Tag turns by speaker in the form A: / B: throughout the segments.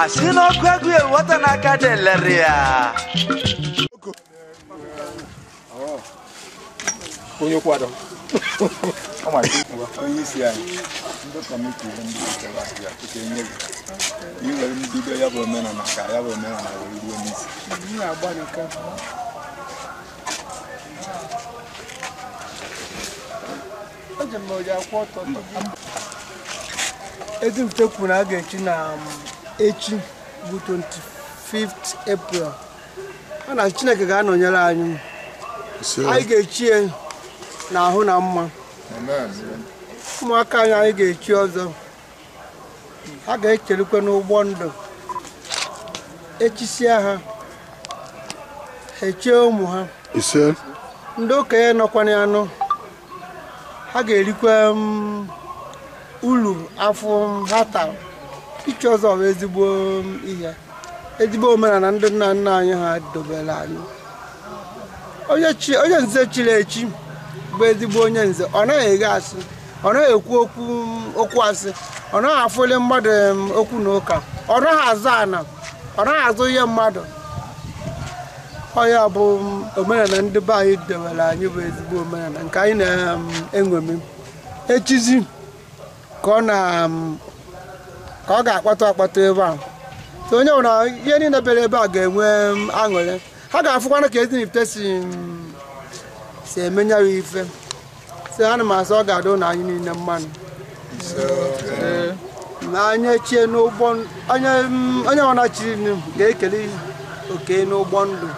A: asị n'ọkụ a gụọ nwata n'aka adịghị ere
B: ya onye kwado onye isi anyị ndị kọmiti ihe ndị nchekwa si ya tupu enye gị iwere mbido ya bụ omenala ka ya bụ omenala wee ruo n'isi
C: Ezinifite kwuru na a ga-echi na um, echi bụ 25th April ọ na Chineke ga-anọnyere anyị anyị ga-echi ya n'ahụ na mma ụmụaka anyị anyị ga-echi ọzọ ha ga-echirikwa n'ụgbọ ndụ echisie ha echie ụmụ ha ise ndị okenye nọkwa na ya nọ ha ga-erikwa mm, ulu afụfụ ha tara ichi ọzọ bụ ezigbo mm, ihe ezigbo omenala ndị nna nna anyị ha dobere anyị onye chi- onye nze chiri echi bụ ezigbo onye nze ọ naghị eghe asị ọ naghị ekwu okwu okwu asị ọ naghị afụli mmadụ em, okwu na ụka ọ naghị azọ ana ọ naghị azọ ihe mmadụ ọ ya bụ m, omenala ndị be anyị dewere anyị bụ ezigbo omenala nke anyị na-eme echizi ka ọ na m, ka ọ ga-akpọtụ akpọtụ ebe a So onye ọbụla anyị niile bịara ebe a ga-enwe m, aṅụrị ha ga-afụkwana ka Ezinifite si si eme ya ife si ana m asị ọ ga-adịlị anyị niile mma nụ na anyị chie n'ụgbọ onye ọbụna chiri ga-ekele oke n'ụgbọ ndụ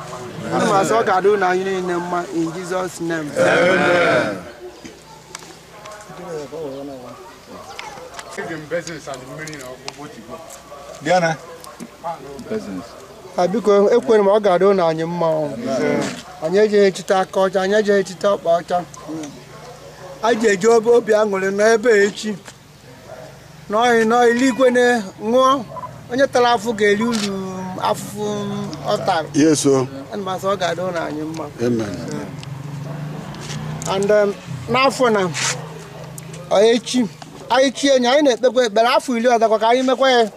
C: ana m asị ọ ga-adịlị anyị niile mma in Jesus name
B: Diana. a biko
C: ekwere m ọ ga-adịlị anyị mma ọ. anyị ejeghị echite aka ọcha anyị ejeghị echite ọkpa ọcha anyị je eji obi aṅụrị n'ebe a echi n'ọhị n'ọhị eluigwe na ṅụọ onye tara afụfụ ga-eri uru afụfụ ọ tara Yes, o. ana m asị ọ ga-adịlị anyị mma Amen. and um, n'afọ na ọ echi anyị chie enyi anyị na-ekpekwa ekpere afọ iri ọzọkwa ka anyị mekwa ya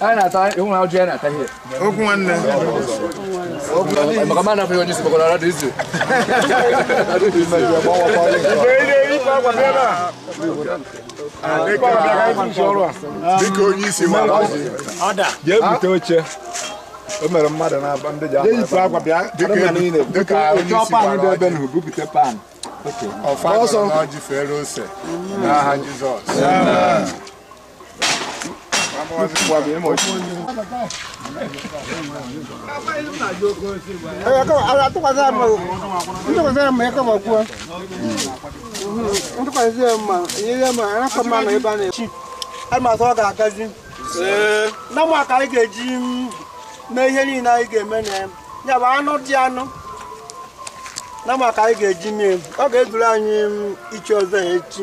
D: Anyị na-ata ịhụ na ọjị anyị na-ata ihe. Okwu nwanne. Maka mmadụ afọ ihe onye isi kpọkọrọ ọrụ dị izu.
B: Dịka onye isi ma ọjị. Jee bute oche. O mere mmadụ na-aba ndị ji akwa bịa. Dịka onye isi ma ọjị. Bupute pan. Ọfa ọjị fere ose. N'aha Jizọs. ntụkwasị ya mma nyere ya mma arapụ mma
C: na ebe a na-echi amasị ọ ga-agazi na mma ka anyị ga-eji mee ihe niile anyị ga-eme na ya ya bụ anụ dị anụ na mma ka anyị ga-eji mee ọ ga-ezuru anyị ichi ọzọ ya echi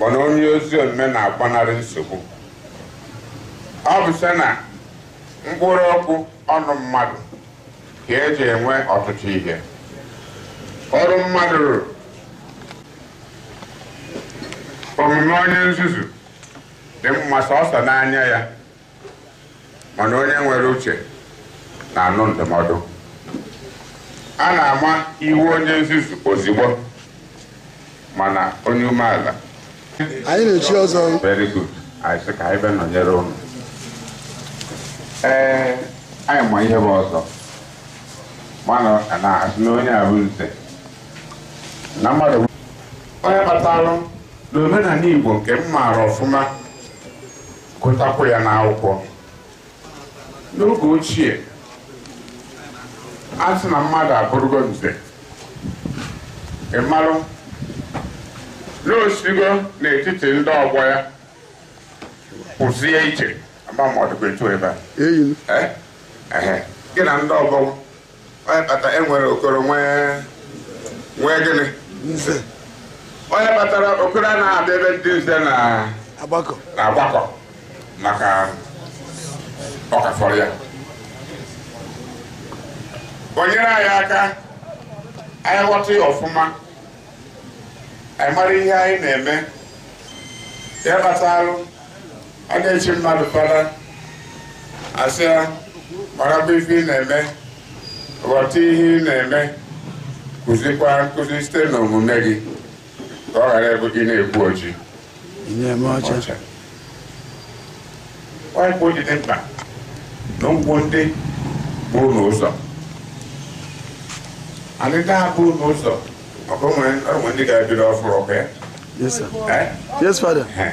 E: mana onye ezi omume na-agbanarị nsogbu ọ bụ si na mkpụrụ okwu ọnụ mmadụ ka e ji enwe ọtụtụ ihe ọrụ mmadụ rụrụ omume onye nzuzu dị mma sọsọ n'anya ya mana onye nwere uche na-anụ ndụmọdụ a na-ama iwe onye nzuzu ozugbo mana onye umeala anyị
B: na-echi ọzọ very
E: good anyị sị ka anyị bịa nọnyere ụnụ ee anyị ma ihe bụ ọzọ mana a na-asị na onye a bụ nze na mmadụ onye kpatalụ N'omenala Igbo nke m maara ọfụma gụtakwu ya n'akwụkwọ n'oge ochie a sị na mmadụ abụrụgo nze ị marụ na o sigo n'etiti ndị ọgbọ ya kwụzie iche ama ma ọ dịkwa etu ebe a Eyi m. Eh? Ehe. gị na ndị ọgbọ onye kpata e nwere okoro nwee gịnị nze onye kpatara okoro a na-abịa ebe ndị nze na-agbakọ maka ọ ka fọrọ ya o nyere anyị aka anyị ghọta ya ọfụma anyị mara ihe anyị na-eme ya kpatalụ a na-echi mmadụ fada a sị ya marakwa ife ị na-eme ghọta ihe ị na-eme kụzikwa nkụzi site n'omume gị ka ọ ghara ịbụ ị na-ekwu oji ọcha ọ bụ ihe dị mkpa na ndụ ndị bụ n'ụzọ. Anyị na-abụ n'ụzọ. Ọ bụ nwere ndị ga-ebido ọfụrụ ọkụ ya. Yes,
B: sir. Eh? Yes, Father. Eh.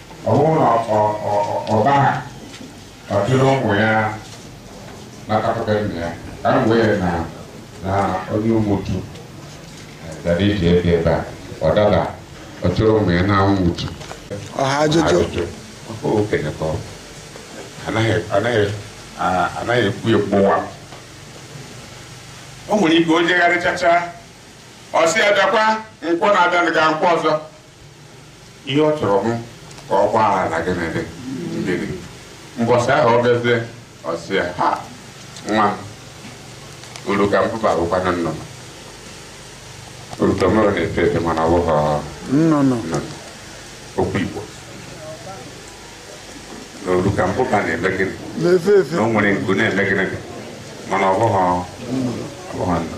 E: Ọ bụrụ na ọba ha ọ chụrụ ụmụ ya natakọta nna ya ka m wee na na onye ụmụtu gara ije ebe ebe a ọ dada ọ chụrụ ụmụ ya na ụmụtu ọha
B: ajụjụ
E: okenye ka ọ anaghị anaghị anaghị ekwu ya mgbụwa o nwere ike o jegharịchacha ọ sị ya bịakwa nkwọ na-abịanụ ga nkwọ ọzọ ihe ọ chọrọ bụ ka ọ gwa ha na gịnị dị ndịdị mbọsị ahụ ọ bịazie ọ sị ya ha nwa m urukambụba bụkwanụ nnụnụ urukambụba na-efe efe mana ọ bụghị nnụnụ nnụnụ okwu igbo na urukambụba na-eme gịnị na-efe efe na o nwere
B: nku na-eme
E: gịnị mana ọ bụghị ọ bụghị nnụnụ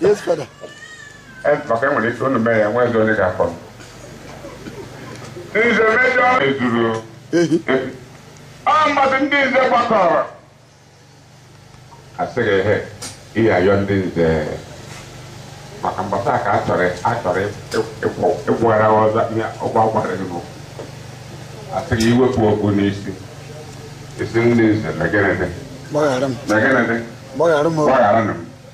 F: Yes, Father.
E: Eh, maka e nwere ike unu mee ya nwa ezi onye ga-akọ nze mejọ ezuru ọ mmadụ ndị nze gbakọrọ a sị gị hee ị ya-ayọ ndị nze maka mgbasa ka a chọrọ a chọrọ ịkwara ọzọ ihe ọgwa gwara gị n'ụkwụ a sị gị i wepụ okpu n'isi ị sị ndị nze mee gịnị dị mee gịnị dị gbaghara m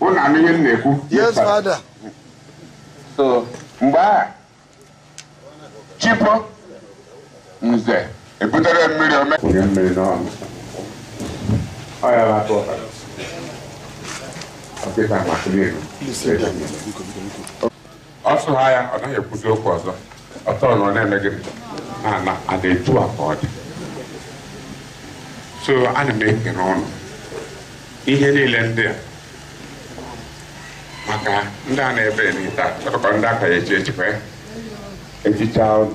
E: Unu anụ ihe m
F: na-ekwu? Yes,
E: Father. So, mgbe ahụ chi bọọ nze ebutere mmiri ome. Onye mmiri n'ọnụ. Ọ ya bụ atụ ọbara. Ọ dịkwa maka n'elu. ọ sụgha ya ọ naghị ekwuzi okwu ọzọ ọtọ na ọ na-eme gịnị na na a na-etu a ka ọ dị so ana m ekele ụnụ ihe niile ndị a maka ndị a na-ebenite a chọrọ ka ndị akaghị echi echikwa ya echicha ụnụ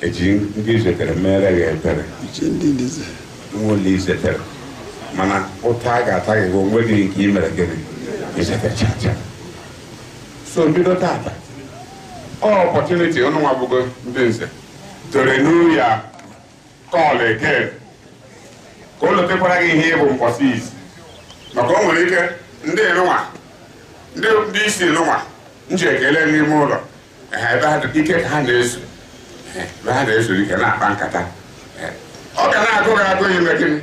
E: e ji na i zetere mere gị ebere nwa ụlọ i zetere mana ụta a ga-ata gị bụ onwe gị nke i mere gịnị i zetechacha so bido tata ọ opportunity ụnụwa bụgo ndị nze to renew your call again ka o lotekwara gị ihe ị bụ mbọsị isi maka o nwere ike ndị nụnwa ndị isi nụnwa m ji ekele n'ime ụlọ Ee, ebe ha dị- ike ka ha na-ezu Ee, ebe ha na-ezuru ike na-akpa nkata Ee, ọ ga na-agụ gị agụ ime gịnị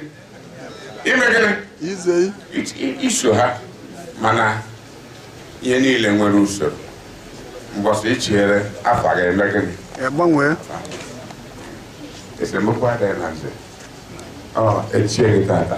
E: ime gịnị ize It-
F: i- iso
E: ha mana ihe niile nwere usoro mbọsị i chiere afa ga-eme gịnị gbanwee esemokwu adịghị na nze ọ echie gị tata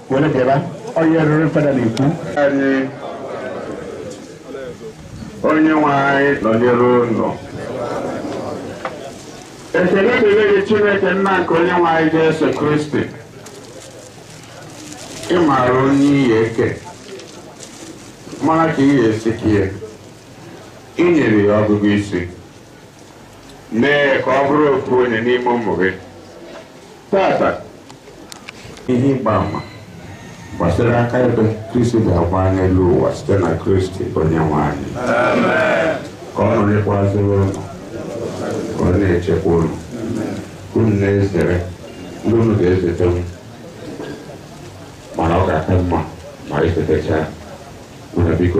E: were bịaba onye reverend fada na-ekwu anyị onye nwe anyị nọnyere unu ekele dịrị gị chineke nna nke onye nwe anyị jesu kristi ị maara onye ị ga-eke mara ka ị ga-esi kie ị nyere ya ọgụgụ isi mee ya ka ọ bụrụ ofu onye n'ime ụmụ gị tata ihe ịgba ama gbasara aka ebe kristi ga-agba n'elu ụwa site na kristi onye nwe anyị ka ọ nọnyekwazịrị unu ka ọ na-echekwa unu unu na-ezere ndị unu ga-ezete m mana ọ ga-aka mma ma ezetecha unu biko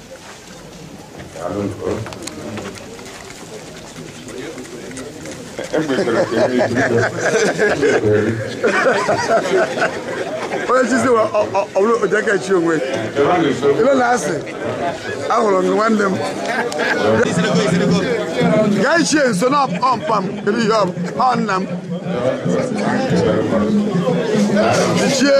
F: onye chizi wa ọ- ọ- ọ bụrụ oje ka chi onwe ibe na asị ahụrụ m gị nwanne m gaa ichie nso na ọmpa m kedu ihe ọ bụ? ọ nna m ichie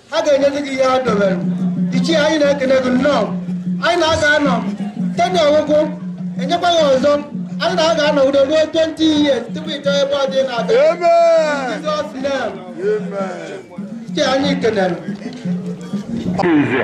C: ha ga-enyezi gị ihe ha dobere ichie anyị na-ekene gị nnọọ anyị na-aga anọ ten ọgwụgwụ enyekwa ya ọzọ anyị na-aga anọ udo ruo 20 years tupu ịchọ ebe ọ dị na-abịa Jizọs name. ichie anyị kenere Nze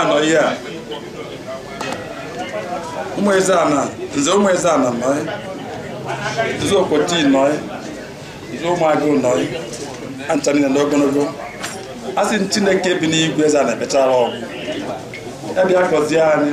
G: anọ ihe a ụmụ eze ana nze ụmụ eze ana nọ nze okoti nọ nze ụmụagụ nọ ha ncha niile na ogologo a sị m chineke bi n'igwe eze ana bịachara ọgwụ ya bịa gọzie anyị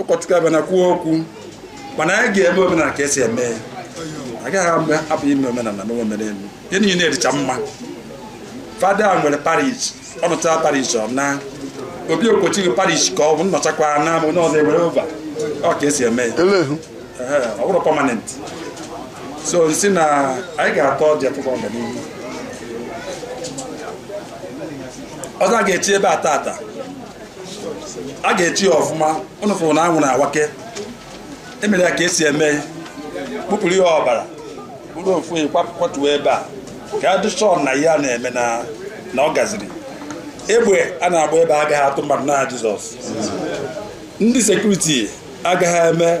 G: ụkọchukwu abịana kwuo okwu mana anyị ga-eme omenala ka esi eme ya agaghị agbahapụ ime omenala na omenaelu ihe niile dịcha mma fada nwere parish ọ nọcha parish ọ na obi okochighị parish ka ọ bụ nnọchakwa na ama onye ọzọ ewere over ọ ka esi eme ya Elehu.
F: Ehe, ọ
G: bụrụ permanent so m sị na anyị ga-ata ọjị atụkọ ọganihu ọzọ a ga-echi ebe a tata a ga-echi ya ọfụma ụnụ fụrụ na anwụ na-awake emere ya ka esi eme ya kpụpụrụ ya ọbara buru ofu ehi kwapụ- kwatuo ebe a ka a dị sure na ihe a na-eme na na ọ gaziri egbe a na-agba ebe a agaghị atụ mmadụ n'aha jizọs ndị sekuriti agaghị eme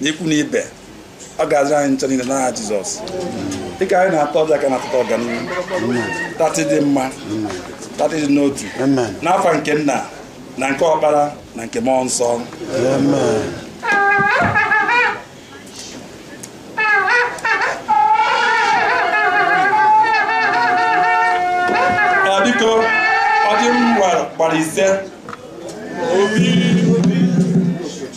G: n'ikwu na ibe ọ ga-azọ anyị ncha niile n'aha Jizọs dịka anyị na-ata ọjị a ka anyị tata ọganihu tata ịdị mma tata ịdị n'otu n'afa nke nna na nke ọkpara na nke mmụọ nsọ biko ọjị nwa gbara ise